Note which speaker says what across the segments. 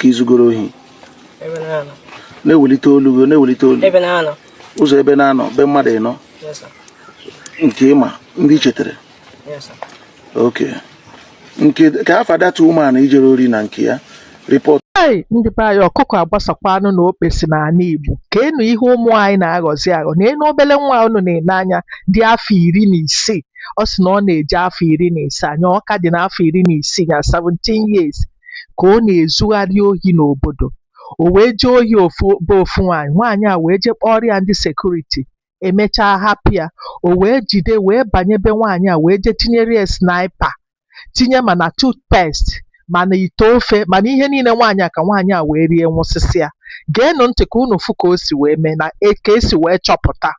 Speaker 1: ka izugoro
Speaker 2: ohi na-ewelite
Speaker 1: olu gị na-ewelite olu
Speaker 2: ụzọ ebe
Speaker 1: na-anọ be mmadụ
Speaker 2: ịnọ nke ị
Speaker 1: ma na ị chetara okay nke ka afa that woman i jere ori na nke ya rịpọt Hey! Ndị be
Speaker 3: anyị ọkụkọ agbasakwanụ na okpesi n'ala Igbo keenụ ihe ụmụ anyị na-aghọzi aghọ neenụ obele nwa unu na-ene anya dị afọ iri na isii ọ sị na ọ na-eje afọ iri na isaa nya ọ ka dị n'afọ iri na isii ya 17 years ka ọ na-ezugharị ohi n'obodo o wee jee ohi ofu be ofu nwaanyị nwaanyị a wee jee kpọrọ ya ndị sekuriti emechaa hapụ ya o wee jide wee banye be nwaanyị a wee jee tinyere ya sniper tinye ma na toothpaste ma na ite ofe ma na ihe niile nwaanyị a ka nwaanyị a wee rie nwụsịsịa geenụ ntị ka unu fụ ka o si wee mee na e- ka e si wee chọpụta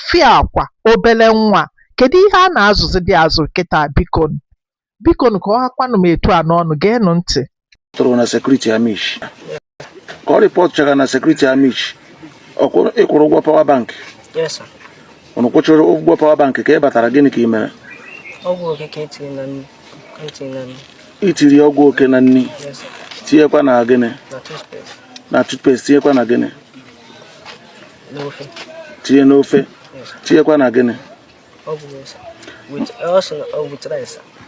Speaker 3: fịakwa obele nwa kedu ihe a na-azụzidị azụ kịta biko Bikonụ ka ọ hakwanụ m etu a n'ọnụ, geenụ ntị. tụrụ na
Speaker 1: sekuriti Amichi ka ọ rịpọtụchara na sekuriti Amichi ọkwụ- ị kwụrụ ụgwọ power bank Yes, sir.
Speaker 2: unu kwụchara
Speaker 1: ụgwọ power bank ka ị batara gịnị ka ị mere Ọgwụ
Speaker 2: oke ka etiri na nri. Ka etiri na
Speaker 1: nri. i tiri ọgwụ oke na nri Yes, sir.
Speaker 2: tinyekwa na gịnị Na toothpaste. na toothpaste
Speaker 1: tinyekwa na gịnị
Speaker 2: N'ofe. tinye
Speaker 1: n'ofe Yes, sir. tinyekwa
Speaker 2: na gịnị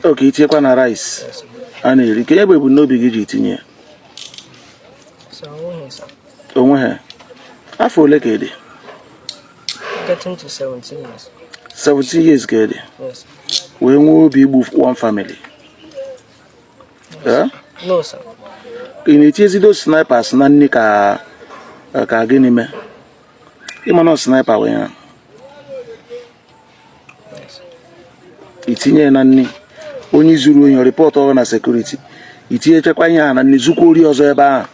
Speaker 2: okay i tinyekwa
Speaker 1: na rice a
Speaker 2: na-eri kee
Speaker 1: ebumnobi gị ji tinye ya
Speaker 2: o nweghị
Speaker 1: afọ ole ka ị
Speaker 2: dị 17
Speaker 1: years ka ị dị
Speaker 2: wee nwee
Speaker 1: obi igbu one
Speaker 2: family ị
Speaker 1: na-etizi those snipers na nri ka ka gịnị mee ị ma na ọ sniper were ya itinye na nri onye i zuru ohi rịpọtụọ gị na sekuriti i tinyechakwa ihe a na nri zukwa ori ọzọ ebe ahụ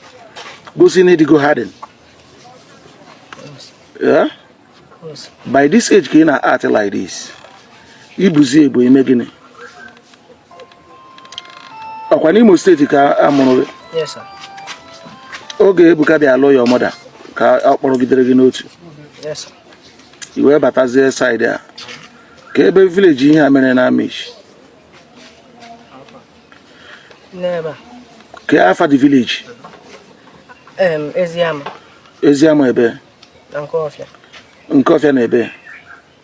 Speaker 1: gosi na ị dịgo hardened by this age ka ị na-act like this i buzie ibu i mee gịnị ọkwa n'Imo steeti ka a mụrụ gị oge Ebuka bịa lụ your mother ka ọ kpọrọgidere gị n'otu
Speaker 2: i wee
Speaker 1: batazie saịdị a kee ebe village ihe a mere na
Speaker 2: Amichi
Speaker 1: kee afa the village Eziama ebe nke ọfịa na ebe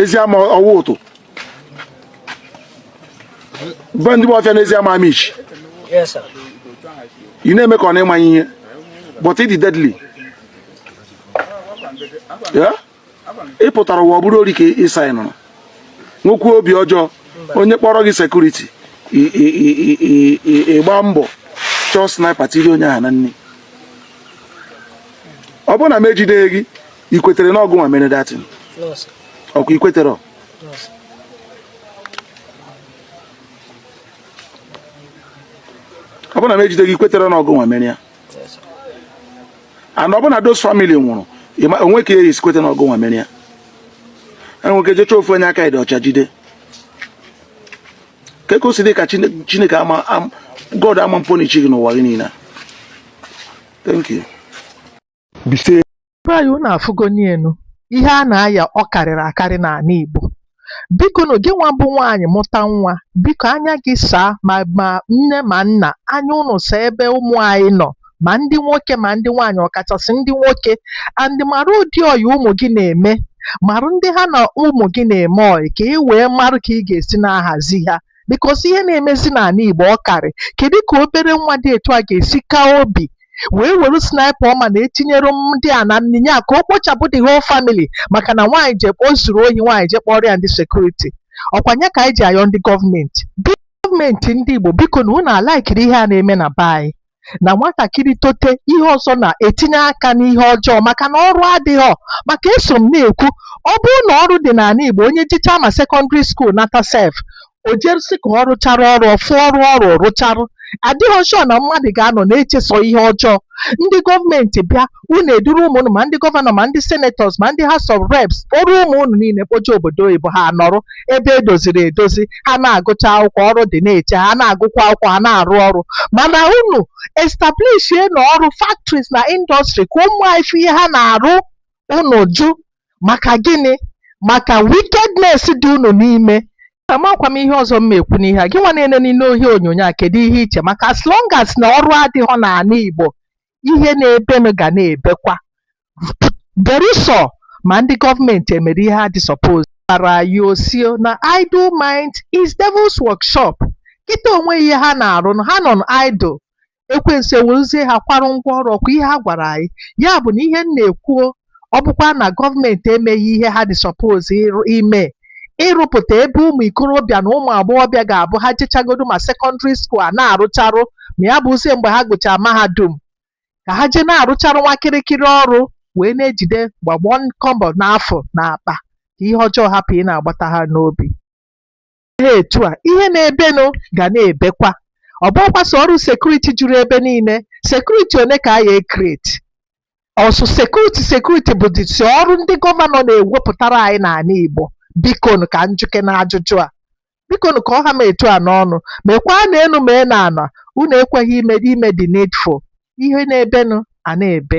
Speaker 1: Eziama ọwa ụtụ be ndị ọfịa n'Eziama
Speaker 2: Amichi ị
Speaker 1: na-eme ka ọ na ị maghị ihe but ị dị deadly yeah ị pụtara ụwa ọ bụrụ ori ka ịsa ị nụrụ nwoke obi ọjọọ onye kpọrọ gị sekuriti ịgba mbọ chọọ snipa tiri onye ahụ na nri ọ bụrụ na m ejideghị gị ikwetere na ọ gị nwa mere that thing ọkwa ikwetere ọ bụrụ na m ejideghị ikwetere na ọ gị nwa mere ya and ọ bụ na those family nwụrụ o nwe ka esi kweta na ọ gị nwa mere ya enwee ike jee chọọ ofu onye aka ya dị ọcha jide ka ka o si dị ka Chineke God ama punish gị n'ụwa gị niile thank you Igbo anyị
Speaker 3: unu afụgonienu ihe a na-aya ọ karịrị akarị n'ala Igbo biko na gị nwa bụ nwaanyị mụta nwa biko anya gị saa ma ma nne ma nna anya ụnụ saa ebe ụmụ anyị nọ ma ndị nwoke ma ndị nwaanyị ọkachasị ndị nwoke and mara ụdị ọyị ụmụ gị na-eme marụ ndị ha na ụmụ gị na-eme ọyị ka ị wee marụ ka ị ga-esi na-ahazi ha because ihe na-emezi n'ala Igbo ọ karị kedu ka obere nwa dị etu a ga-esi kaa obi wee were sniper ọma na etinyere ndị a na nni a ka o kpochapụ the whole family maka na nwaanyị je o zuru ohi nwaanyị jee kpọọrọ ya ndị sekuriti ọkwa nya ka anyị ji ayọ ndị gọọmenti gọọmenti ndị Igbo biko na unu ala-ekiri ihe a na-eme na be anyị na nwatakịrị tote ihe ọzọ na-etinye aka n'ihe ọjọọ maka na ọrụ adịghọ maka eso m na-ekwu ọ bụrụ na ọrụ dị n'ala Igbo onye jechaa ma sekọndịrị skuul nata sef o jerụ sị ka ọ rụchara ọrụ ọ fụọ ọrụ ọrụ rụcharụ adịghọ sure na mmadụ ga-anọ na-eche sọ ihe ọjọọ ndị gọọmenti bịa unu eduru ụmụ unu ma ndị gọvanọ ma ndị senetọs ma ndị House of Reps kpọrọ ụmụ unu niile kpoje obodo oyibo ha anọrụ ebe edoziri edozi ha na-agụcha akwụkwọ ọrụ dị na-eche ha na-agụkwa akwụkwọ ha na-arụ ọrụ mana unu establishie ụnọ ọrụ factories na indọstrị ka ụmụ anyị fụ ihe ha na-arụ unu jụ maka gịnị maka wickedness dị unu n'ime amakwa m ihe ọzọ m ma ekwu n'ihe a gị nwa na-ele n'ihe onyonyo a kedu ihe i che maka as long as na ọrụ adịghọ n'ala Igbo ihe na-ebenụ ga na-ebekwa berusọ ma ndị gọọmenti emere ihe ha dị suppose gwara anyị ọ sị o na idle mind is devil's workshop kịta o nweghị ihe ha na-arụ nụ, ha nọ idle ekwensu ewerezie ha kwarụ ngwa ọrụ ọkwa ihe ha gwara anyị ya bụ na ihe m na-ekwu o ọ bụkwa na gọọmenti emeghị ihe ha dị suppose ime ịrụpụta ebe ụmụ ikorobịa na ụmụ agbọghọbịa ga-abụ ha jechagodu ma sekọndịrị skuul ha na-arụcharụ ma ya bụzie mgbe ha gụchara mahadum ka ha jee na-arụcharụ nwa kịrịkịrị ọrụ wee na-ejide gbagbo kọbọ na afụ n'akpa ka ihe ọjọọ hapụ ị na-agbata ha n'obi ha etu a, ihe na-ebenụ ga na-ebekwa. Ọ bụghịkwa sọ ọrụ security juru ebe niile. Security one ka a ya-ecreate? Ọ sọ security security bụzi sọ ọrụ ndị gọvanọ na-ewepụtara anyị n'ana Igbo? Bikonụ ka m jụkene ajụjụ a. Bikonụ ka ọ ha m etu a n'ọnụ. Mekwaa n'enu mee n'ana. Unu ekweghị ime ime the needful. Ihe na-ebenụ a na-ebe.